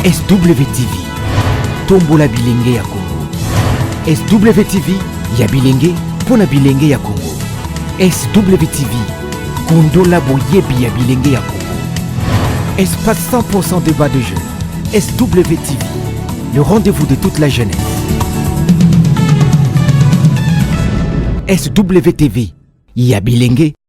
SWTV, tombola bilenge ya Congo. SWTV ya bilenge mpo na bilenge ya Congo. SWTV, kundola boyebi ya bilenge ya Congo. Espace 100% débat de jeunes. SWTV, le rendez-vous de toute la jeunesse. SWTV ya bilenge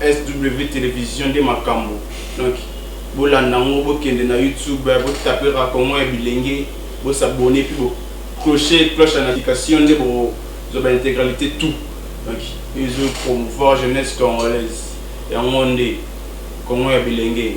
SW television nde makambu donc bolanda yango bokende na YouTube bo taper racongo ya bilenge bo s'abonner puis bo cloche cloche ya notification nde bo zwa ba integralite tout donc ezo promouvoir jeunesse congolaise yango nde congo ya bilenge.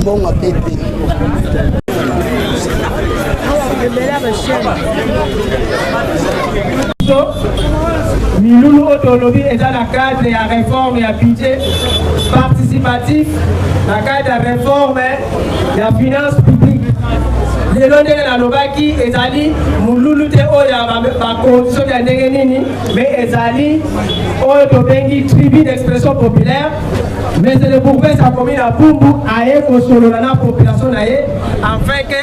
mbongo pepe milulu oyo tolobi eza na cadre ya réforme ya budget participatif na cadre ya réforme ya finance publique lelo ndenge nalobaki ezali molulu te oyo ya bakonzi soki ya ndenge nini mais ezali oyo tobengi tribu d'expression populaire mais le bourgmestre akomi na bumbu aye kosolola na population na ye afin ke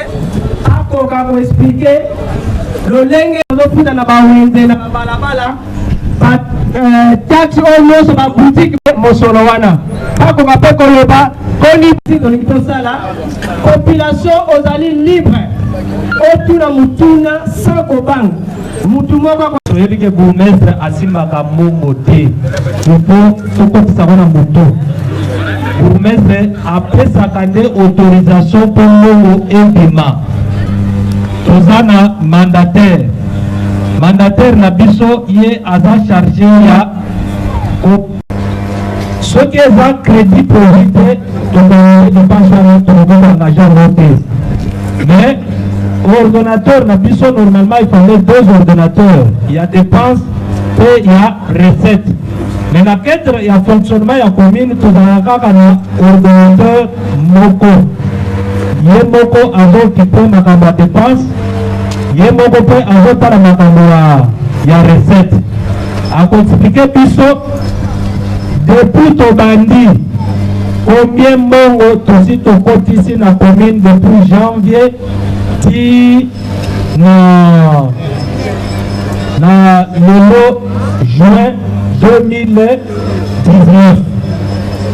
akoka koexplike lolenge azofuta na bawenze na babalabala ba euh, taxe oyo nyonso ba boutique mosolo wana bakoka mpe koloba koni olingi tosala population ozali libre otuna motuna sans kobanga motu moko toyebi ke bourgmestre asimbaka mbongo te ifo tokotisa ngo na moto bourgmestre apesaka nde autorisation mpo mbongo ebima Toza na mandataire, mandataire na biso ye aza charge ya ko soki eza credit produit te tobongi depense wana tokobonga na genre te mais ordonnateur na biso normalement il fallait deux ordonnateurs ya dépense mpe ya recette Mais na cadre ya fonctionnement ya commune tozalaka kaka na ordinateur moko ye moko azokipe makambo ya dépense ye moko mpe azotala makambo ya recette akoexplike biso depuis tobandi combien mbongo tosi tokotisi na commune depuis janvier ti na na lelo juin 2019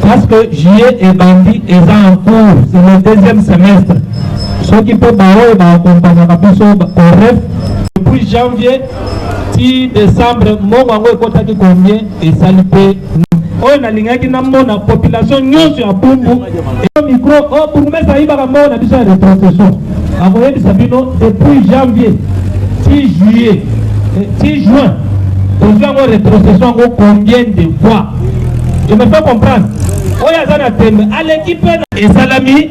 parce que juillet ebandi eza en cours c'est le deuxième semestre soki mpe baoyo baakompagnaka biso oref depuis janvier ti décembre mbongo yango ekotaki combien esali mpe oyo nalingaki namona population nyonso ya bumbu eyo micro o oh, bourgmestre ayibaka mbongo na biso ya retrocession akoyebisa bino depuis janvier ti juillet eh, ti juin tozwi yango retrocession yango combien de fois je me fais comprendre oyo aza na tembe aleki mpe esalami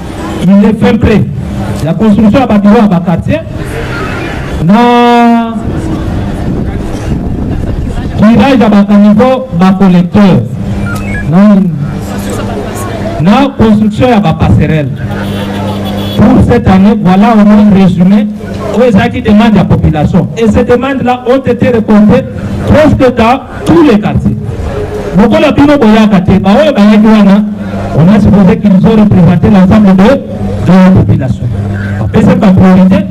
il est fin près ya construction ya babiro ya baquartier na curage ya bacaniveau bacollecteur na construction ya bapasserelle pour cette année voilà au moins résumé oyo ezalaki demande ya population et ces demandes là ont été récoltées presque dans Tous les quartiers. Lokola bino boyaka te, baoyo bayaki wana, on a supposé qu'ils ont représenté l'ensemble de, de la population. Bapesaki ba priorité.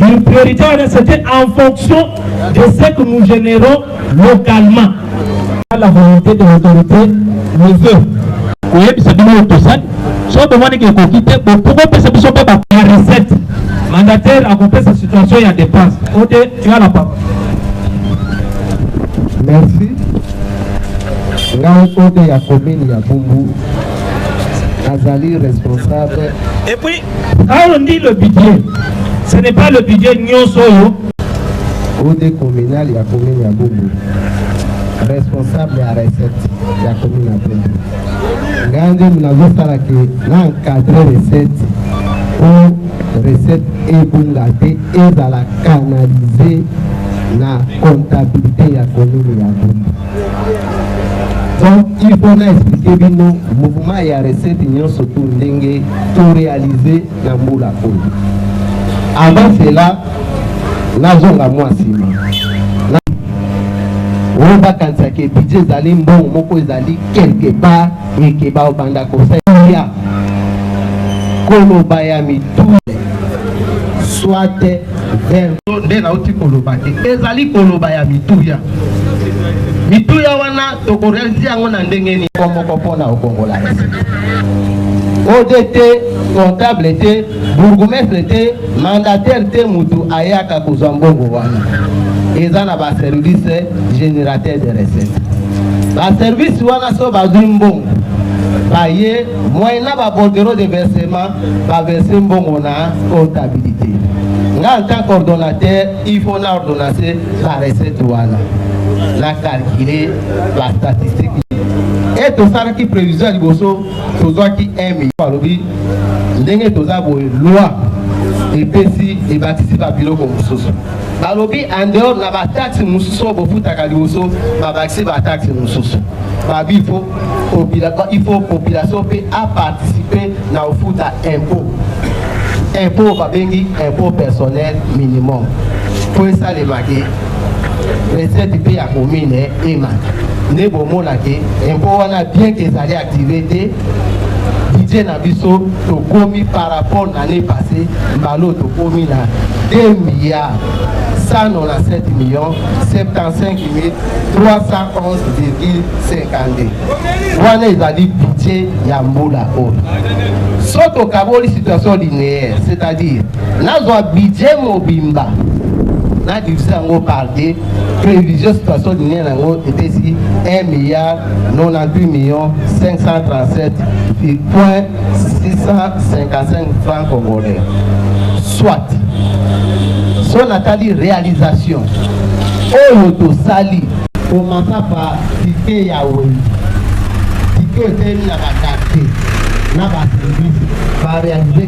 Une priorité wana c'était en fonction de ce que nous générons localement. La volonté de l'autorité le veut. koyebisa bino oyo tosali soki bomoni ke ekoki te bokopesa biso mpe ba recette mandataire akopesa situation ya dépense ote Tu as la parole. Merci. Ngai ote ya commune ya Bumbu nazali responsable. Et puis, quand on dit le budget, ce n'est pas le budget nyonso oyo. Ode communal ya commune ya Bumbu responsable ya recette ya commune ya Bumbu. Ngai nde nazosala ke na encadre recette mpo recette ebunga te ezala canalise na comptabilite ya commune ya Bumbu. Donc il faut na expliquer bino mouvement ya recette nyonso to ndenge to réaliser na mbula oyo. Avant cela nazonga mwa nsima oyo bakanisaka ebidje ezali mbongo moko ezali quelque part Ndeke bao banda kosalia koloba ya mitule soit verso nde nauti koloba te ezali koloba ya mituya mituya wana tokorealize yango na ndenge nini moko mpona okongola odt comptable te Bourgoumestre te, mandataire te mutu ayaka kozwa mbongo wana. Eza na ba service generateur de recette. Ba service wana so bazwi mbongo baye moyen na ba bordereau de versement ba verser mbongo na comptabilité. Nga en tant qu'ordonnateur, il faut na ordonnance ba recette wana. Na calculer ba statistiques. Et tosalaki prévision liboso tozwaki emi alobi ndenge toza boye loi epesi ebakisi babiloko mosusu balobi en dehors na bataxe mosusu oyo bofutaka liboso babakisi bataxe mosusu babi ifo ifo population mpe aparticipe na kofuta impôt impôt babengi impôt personnel minimum mpo esalemaki recette mpe ya commune emata nde bomona ke impôt wana bien ke ezali active te budget na biso tokomi par rapport na année passé mbalo tokomi na 2 milliards 197 millions 75 311,52 wana ezali budget ya mbula oyo so tokaboli situation linéaire c'est-à-dire Nazwa budget mobimba na divise yango par deux prévision situation linie na yango epesi 1 milliard 98 millions 537 point 655 francs congolais soit so natali réalisation oyo tosali komasa pa tike ya wengi tike etemi na badate na baservice barealize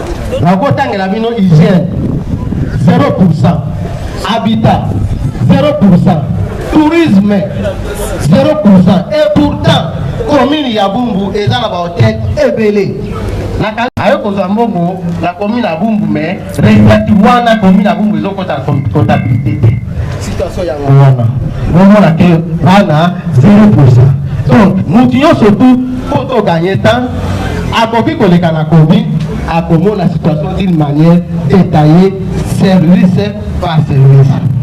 nakotangela bino hygiène 0 pourcent habitat 0 pourcent tourisme 0 pourcent et pourtant commune ya bumbu eza na bahotel ebele aye kozwa mbongo na commune ya bumbu mais recette wana commune ya bumbu ezokota comptabilité te situation yango wana bomona ke bana 0 pourcent donc motu nyonso tu Faut to gagner temps, akoki koleka na komi akomona situation d'une manière détaillée service par service.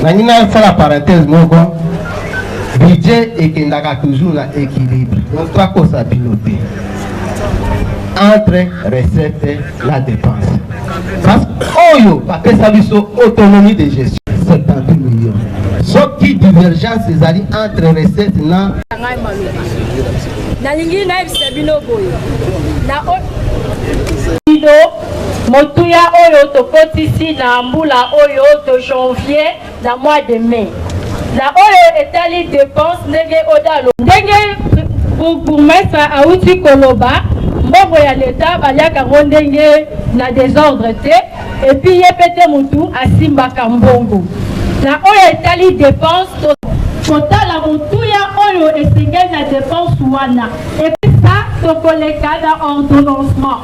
nangi nasala parenthèse moko budget ekendaka toujours na équilibre donc toakosa bino te entre recette la dépense parce oyo bapesa biso autonomie de gestion 70 millions soki divergence ezali entre recette na ngai maloba nalingi nayebisa bino boye na motuya oyo tokotisi na mbula oyo to janvier na mois de mai na oyo etali depense ndenge odalo ndenge bourgmestre awuti koloba mbongo ya leta baliaka yango ndenge na desordre te epuis ye mpe te motu asimbaka mbongo na oyo etali depense kotala motuya oyo esengeli na depense wana epesa tokoleka na ordonnancement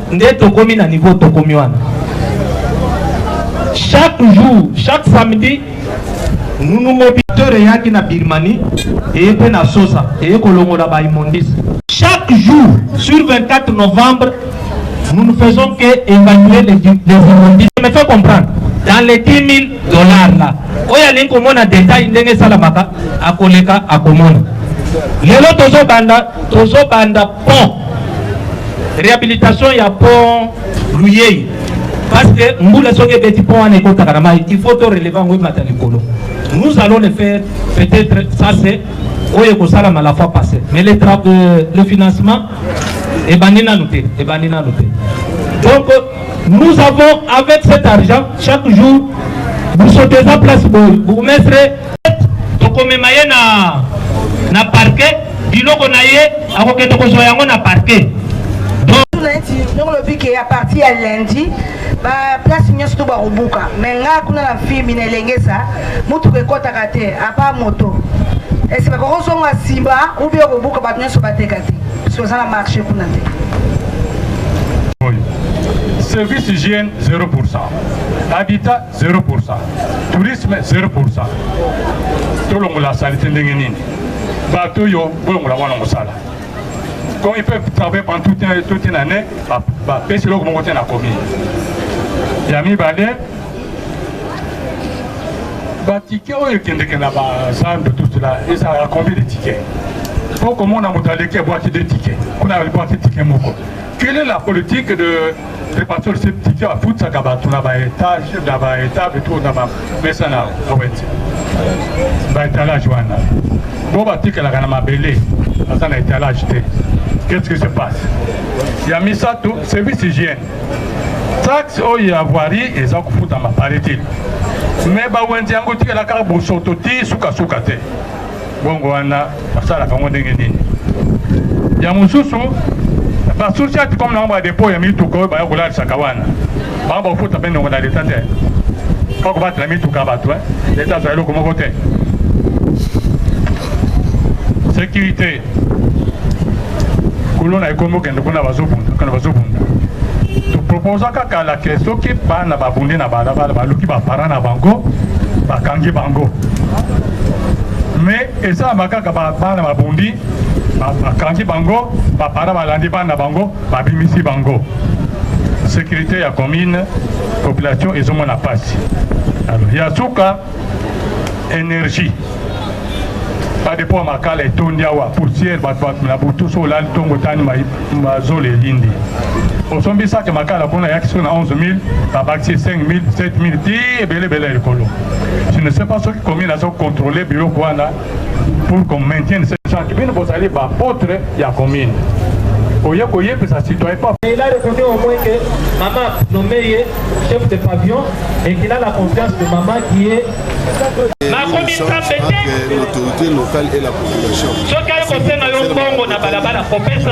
Nde tokomi na niveau tokomi wana. Chaque jour, chaque samedi, Nunu Mobiteur eyaki na Birmanie, eye mpe na Sosa, eye kolongola ba immondices. Chaque jour, sur 24 novembre, nous ne faisons que évaluer les, les immondices. Je me fais comprendre. Dans les 10 000 dollars là, oyo alingi komona detail ndenge esalamaka akoleka akomona lelo tozobanda tozobanda pont rehabilitation ya pont luyei parce que mbula soki ebeti pont wana ekotaka na mai il faut to releve yango emata likolo nous allons le faire peut-être ça c'est oyo ekosalama la fois passé mais le, euh, le financement ebandi nanu te ebandi nanu te donc nous avons avec cet argent chaque jour vous sautez en place bourgmestre tokomema ye na na parquet biloko na ye akokende kozwa yango na parquet ndenge olobi ke ya parti ya lundi baplace nyonso to bakobuka mai ngai kuna na fimi na elengesa motuka ekɔtaka te apa moto ese bakoki ozonga nsima ubi okobuka bato nyonso bateka te soki oza na marché kuna te service hygiène 0 habitat Zero pour ça. Tourisme zero pour ça. Tolongola salite ndenge nini? Bato yo bolongola wana mosala. Comme ils peuvent travailler pendant toute, toute une année, ba, ba pesi loko moko te na commune. Ya mibale ba ticket oyo ekendeke na ba zando tout cela ezalaka combien de tickets? Faut komona moto aleki abwaki de ticket. Kuna abwaki ticket moko. Quelle est la politique de Te pasteur se tiki afutsaka bato na ba etage na ba etable to na ba mesa na oweti ba etalage wana bo batikalaka na mabele aza na etalage te qu'est-ce qui se passe ya misato service hygiène taxe oyo ya voirie eza kofutama paraît-il mais bawenze yango etikala kaka bosoto ti sukasuka te bongo wana basalaka yango ndenge nini ya mosusu basociate comme nango badepo ya mituka oyo baya kolalisaka wana bango bakofuta mpe ndongo na leta te mpo kobatela mituka ya bato eh. leta azwa eloko moko te sécurité kuluna ekomi okende kuna bazobunda kana bazobunda toproposa kaka la ke soki bana babundi na balabala baluki bapara na bango bakangi bango mais esalama kaka bana babundi bakangi bango bapara balandi bana bango babimisi bango sécurité ya commune population ezomona mpasi ya suka energie badepo ya makala etondi awa poussière bato na butu so olali ntongo otani mazolo elindi osombi sake makala kuna ayaki soki na 11000 babakisi 5000 7000 ti ebele ebele ya likolo je ne sais pas soki commune aza kocontrole biloko wana pour qu'on maintienne ce chant bino bozali bapotre ya commune oye koyebisa citoyen pa il a reconnu au moins que maman nommé ye chef de pavillon et qu'il a la confiance de maman qui est l'autorité locale et la population soki akosenga yo mbongo na balabala kopesa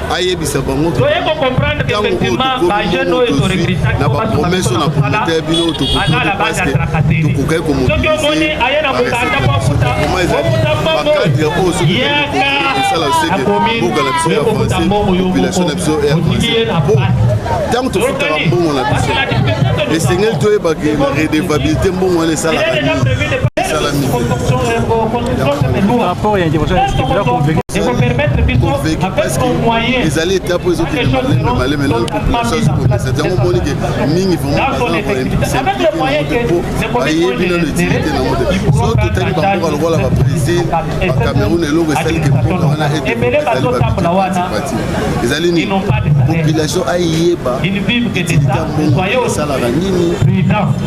ayebisa bango ntango oyotokozwi na bapromese oyo na promote ya bino tokokende paske tokokaki komobilize bareseoma ezali bakadre oyo soki kosala seke mboka na biso ya français population na biso ya français po ntango tofutaka mbongo na biso esengeli toyebake redevabilité mbongo wana esalaka nini esalami rapport ya intervention ya steve la convaincre ekopermettre biso avec nos moyens ezali eta mpo ezokende malembe malembe nano population ezokomisa yango omoni ke mingi vraimentbayebi nano etilite na mote so totali bamboka lokola babrésil bacameroun eloko esali ke mboka wana eteezalibabipati ezali nini population ayeba etilite ya mbongo esalaka nini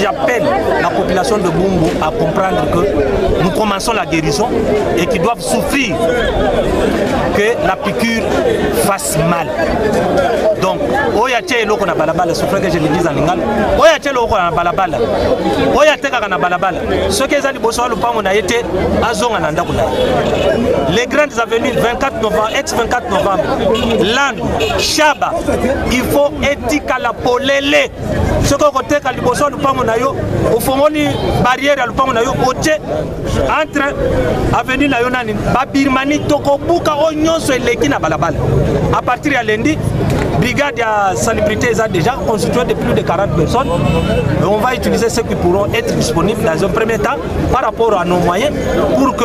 J'appelle la population de Bumbu à comprendre que nous commençons la guérison et qu'ils doivent souffrir que la piqûre fasse mal. Donc, oya tya eloko na balabala souffre que je le dise en lingala oya tya eloko na balabala oya tekaka na balabala soki eza liboso ya lopango na ye te azonga na ndako na ye les grandes avenues 24 novembre ex 24 novembre landu shaba il faut etikala polele soki okoteka liboso ya lupango na yo ofongoli barrière ya lupango na yo otie entre avenue na yo nani babirmani tokobuka oyo nyonso eleki na balabala à partir ya lendi brigade ya salubrité eza déjà constituée de plus de 40 personnes on va utiliser ceux qui pourront être disponibles dans un premier temps par rapport à nos moyens pour que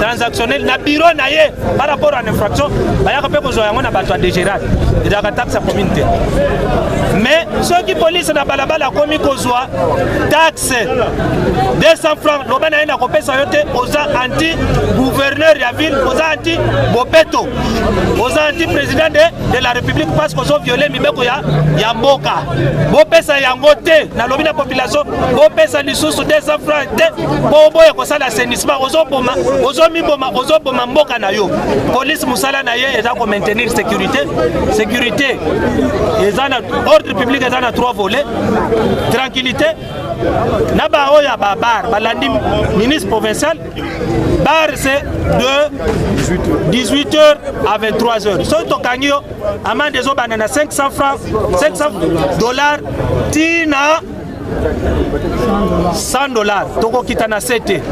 transactionnel na bureau na ye par rapport à l'infraction bayaka mpe kozwa yango na bato ya dégéral ezalaka taxe ya commune te mais soki polise na balabala akomi kozwa taxe 200 francs loba na ye na kopesa yo te oza anti gouverneur ya ville oza anti bopeto oza anti président de, de la république parce que ozo viole mibeko ya, ya mboka bopesa yango te nalobi na population bopesa lisusu 200 francs te mpo oboye kosala assainissement ozoboma ozomiboma ozoboma mboka na yo polise mosala na ye eza komaintenir sécurité sécurité eza na ordre public eza na trois volets tranquillité na baoyo ya babar balandi ministre provincial bar c'est de 18 heures à 23 heures soki tokangi yo amande ezobanda na 500 francs 500 dollars tina 100 dollars tokokita na se te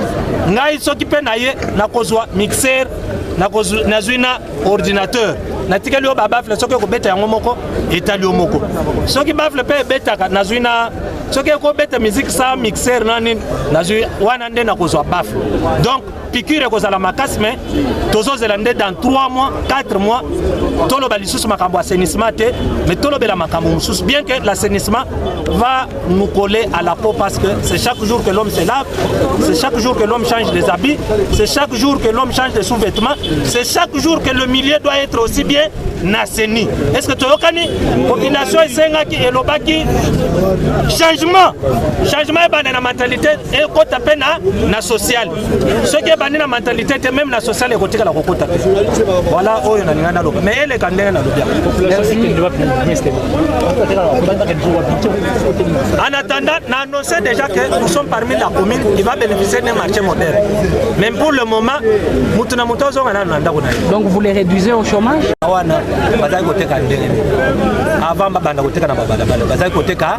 ngai soki mpe na ye nakozwa mixer nazwi na ordinateur natikeli yo babafle soki ekobeta yango moko etali yo moko soki bafle mpe ebetaka nazwi na soki ekobeta miziki sa mixer na nini nazwi wana nde nakozwa bafle donc piqûre ekozala makasi mais tozozela nde dans 3 mois 4 mois toloba lisusu makambo assainissement te mais tolobela makambo mosusu bien que l'assainissement va nous coller à la peau parce que c'est chaque jour que l'homme se lave c'est chaque jour que l'homme change des habits c'est chaque jour que l'homme change des sous-vêtements c'est chaque jour que le milieu doit être aussi bien naseni est ce que toyokani population esengaki elobaki changement changement ebanda na mentalité ekota mpe na na social soki ebandi na mentalite te meme na social ekotikala kokota te voilà oyo nalinga naloba mais eleka ndenge nalobi en attendant na annonce déjà que nous sommes parmi la commune qui va bénéficier d'un marché moderne mais pour le moment motu na motu azonga nano na ndako na ye donc vous les réduisez au chômage wana bazali koteka ndenge avant babanda koteka na babalabala bazali koteka